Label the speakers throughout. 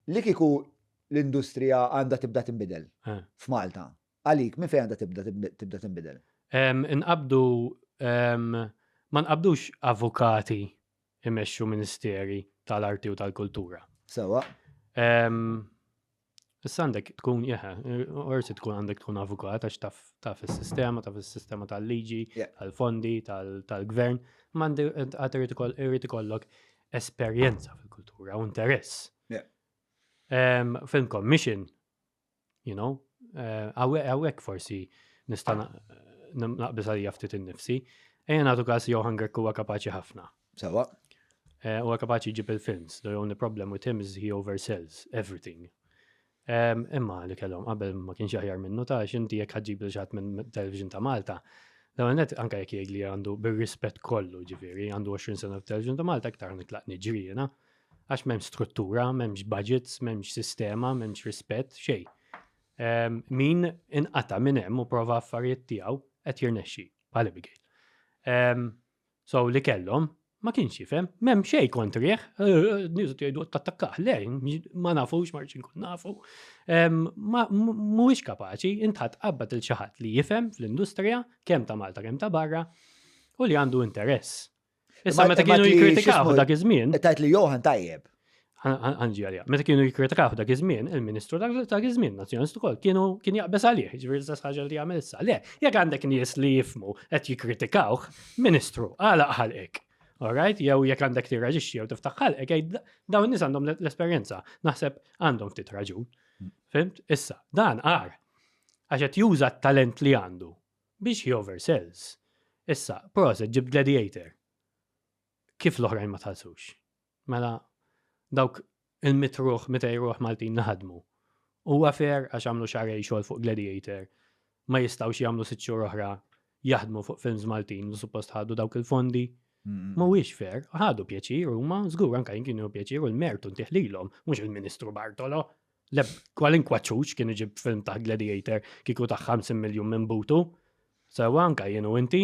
Speaker 1: Li kieku l-industrija għandha tibda tinbidel f'Malta, għalik minn fejn għandha tibda tinbidel? Inqabdu,
Speaker 2: ma nqabdux avukati jmexxu ministeri tal-arti u tal-kultura. Sewwa. Issa għandek tkun, jeħe, orsi tkun għandek tkun avukat għax taf is-sistema, taf is-sistema tal-liġi, tal-fondi, tal-gvern, ma għandi għad irrid ikollok esperjenza fil-kultura u interess. Yeah. Um, film commission, you know, eh, għawek uh, forsi nista' naqbis għalija ftit innifsi. Ejja nagħtu każ Johan Grek huwa kapaċi ħafna. Sawa.
Speaker 1: Eh, huwa
Speaker 2: kapaċi jġib il-films. The only problem with him is he oversells everything. Imma li kellhom qabel ma kienx aħjar minnu ta' xinti jekk ħadġib li xaħat minn television ta' Malta. Dawn net anka jekk jgħid li għandu bir-rispett kollu ġifieri, għandu 20 sena f'television ta' Malta iktar nitlaq niġri jiena. Għax m'hemmx struttura, m'hemmx budgets, m'hemmx sistema, m'hemmx rispett, xej. Min inqata minn hemm u prova affarijiet tiegħu qed jirnexxi bħal Abigail. So li kellhom, ma kienx jifhem, m'hemm xejn kontrih, nies qed jgħidu tattakkah, le, ma nafux ma rridx inkun nafu. Mhuwiex kapaċi, intħadd qabad il xi ħadd li jifhem fl-industrija kemm ta' Malta kemm ta' barra u li għandu interess. Issa meta kienu jikkritikaw dak iż-żmien. Tajt li Johan tajjeb.
Speaker 1: Anġi
Speaker 2: għalija. Meta kienu jikkritikaw dak iż-żmien, il-Ministru dak iż-żmien Nazzjonist ukoll kienu kien jaqbeż għalih, ġifieri l-istess ħaġa li jagħmel issa. Le, jekk għandek nies li jifmu qed jikkritikawh, Ministru, għala ħalqek. Alright, jew jekk għandek tirraġixxi jew tiftaħ ħalqek, dawn nies għandhom l-esperjenza, naħseb għandhom ftit raġun. Mm. Fimt? Issa, dan għar. Għax qed juża t-talent li għandu biex he oversells. Issa, proset ġib gladiator. Kif l-oħrajn ma tħallsux? Mela, dawk il-mit ruħ, mitej ruħ Maltin li ħadmu. Huwa fair għax għamlu xarej xogħol fuq Gladiator, ma jistgħux jagħmlu sitt xhur oħra jaħdmu fuq films Maltin li suppost ħadu dawk il-fondi. Mhuwiex fair, ħadu pjaċir huma, żgur anke jien kienu pjaċir u l-mertu ntih lilhom, mhux il-Ministru Bartolo. Le kwalinkwa ċuċ kien iġib film ta' Gladiator kieku ta' 50 miljun minn butu. Sewa anke jien u inti.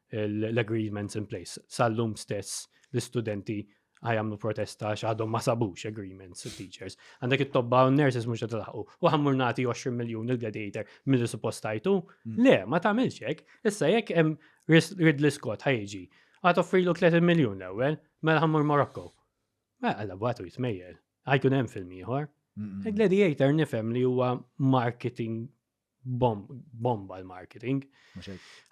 Speaker 2: l-agreements in place. Sal-lum stess l-istudenti għajamlu protesta xaħdom ma sabux agreements u teachers. Għandek it-tobba u nurses mux t-laħu. U għammur nati 20 miljon il-gladiator mill suppostajtu. Mm. Le, ma tamil xek. Issa jek jem Ridley Scott ħajġi. Għat offrilu 30 miljon l-ewel, mela għammur Morocco. Ma għalla bħatu jitmejjel. Għajkun hemm film ieħor. Gladiator nifhem li huwa marketing bomba l-marketing.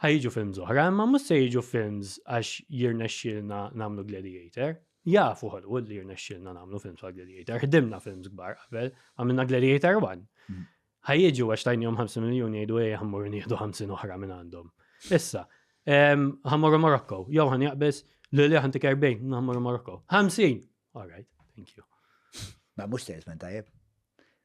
Speaker 2: Ħajġu films oħra, imma mhux se jiġu films għax jirnexxilna nagħmlu Gladiator. Jafu Hollywood li jirnexxilna nagħmlu films għal Gladiator. Ħdimna films kbar qabel, għamilna Gladiator 1. Mm. Ħajġu għax tajnihom 50 miljun jgħidu ej ħammur nieħdu 50 oħra minn għandhom. Issa, ħammur Morocco, jew ħan jaqbes li li ħan tiker bejn, ħammur Morocco. 50! All right, thank you. Ma mhux
Speaker 1: salesman tajjeb.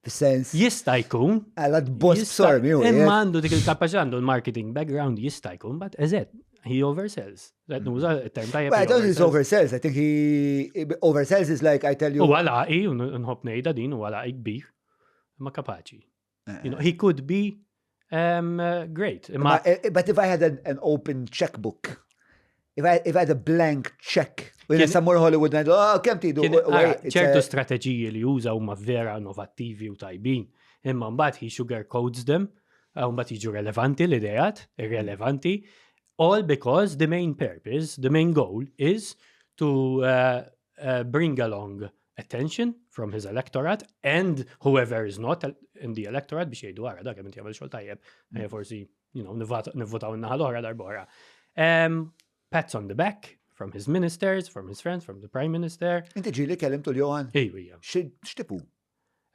Speaker 1: Fis-sens. Jista' jkun.
Speaker 2: Alla tboss
Speaker 1: sormi u. Imma għandu dik il-kapaċità
Speaker 2: għandu l-marketing background jista' jkun, but eżed, he oversells. That knows a term tajjeb. Well, I don't think oversells. I
Speaker 1: think he oversells is like I tell you. U għalaqi, nħob
Speaker 2: nejda din, u għalaqi kbir, ma kapaċi. You know, he could be um, uh, great. But, eh, but
Speaker 1: if I had an, an open checkbook, if I, if I had a blank check, Wien sammur Hollywood ngħidu, oh, kemm tidu. ċertu
Speaker 2: strateġiji li juża huma vera innovattivi u tajbin, imma mbagħad he sugar codes them, u mbagħad jiġu relevanti l-idejat, irrelevanti, all because the main purpose, the main goal is to uh, uh, bring along attention from his electorate and whoever is not in the electorate biex jgħidu għara dak minti għamil xol tajjeb, mm. eh, forsi, you know, nivvotaw n-naħal oħra darbora. Um, pats on the back from his ministers, from his friends, from the prime minister. Inti ġili kellim tul
Speaker 1: Johan? Iju, ija.
Speaker 2: Xtipu?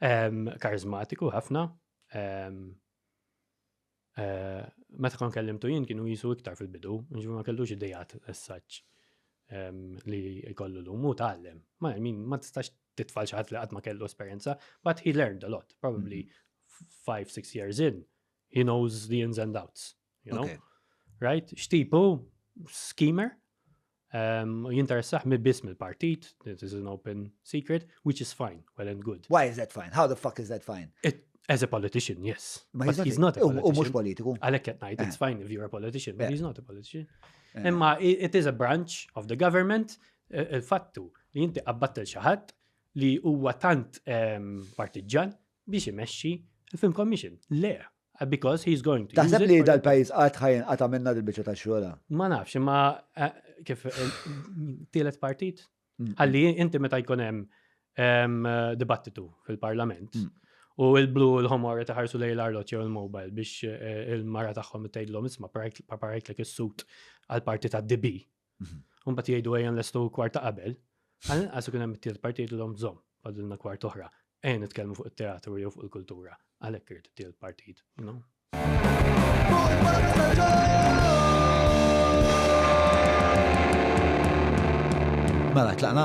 Speaker 1: Um, karizmatiku,
Speaker 2: ħafna. Um, Eh, meta kon kellimtu jien kienu jisu iktar fil-bidu, ġifu ma kellux idejat essaċ li jkollu l mu tal-lem. Ma min ma tistax titfall xaħat li għatma kellu esperienza, but he learned a lot, probably mm-hmm. five, six years in, he knows the ins and outs, you know? Right? Xtipu, schemer, Um, u jinteressaħ mi biss mill-partit, this is an open secret, which is fine, well and good. Why is that fine? How the fuck
Speaker 1: is that fine? It, as a politician,
Speaker 2: yes. Ma but he's not a politician.
Speaker 1: U mux
Speaker 2: politiku.
Speaker 1: Għalek at
Speaker 2: night,
Speaker 1: it's eh. fine
Speaker 2: if you're a politician, but eh. he's not a politician. Eh. Imma it is a branch of the government, il-fattu li jinti qabbattel xaħat li huwa tant ehm, partiġġan biex imexxi il-film commission. Le, Uh, because he's going to. Taħseb li dal-pajis għat
Speaker 1: ħajn
Speaker 2: għat
Speaker 1: għamilna dil-bicċa ta' xola? Ma nafx, ma
Speaker 2: eh, kif eh, tielet partit? Mm. Għalli inti meta jkun hemm ehm, dibattitu fil-parlament mm. u il-blu l-homor taħarsu lej l-arlot jew il-mobile biex eh, il-mara tagħhom tgħidlhom isma' parajtlek is-sut għal parti ta' DB. Mbagħad jgħidu ejja nlestu kwart ta' qabel, għal-inqas ikun hemm it-tielet parti jgħidulhom żomm fadilna kwart oħra. Ejja nitkellmu fuq it-teatru jew fuq il-kultura. Għalhekk irid it-tielet partit, you know?
Speaker 1: Mela, tlaqna?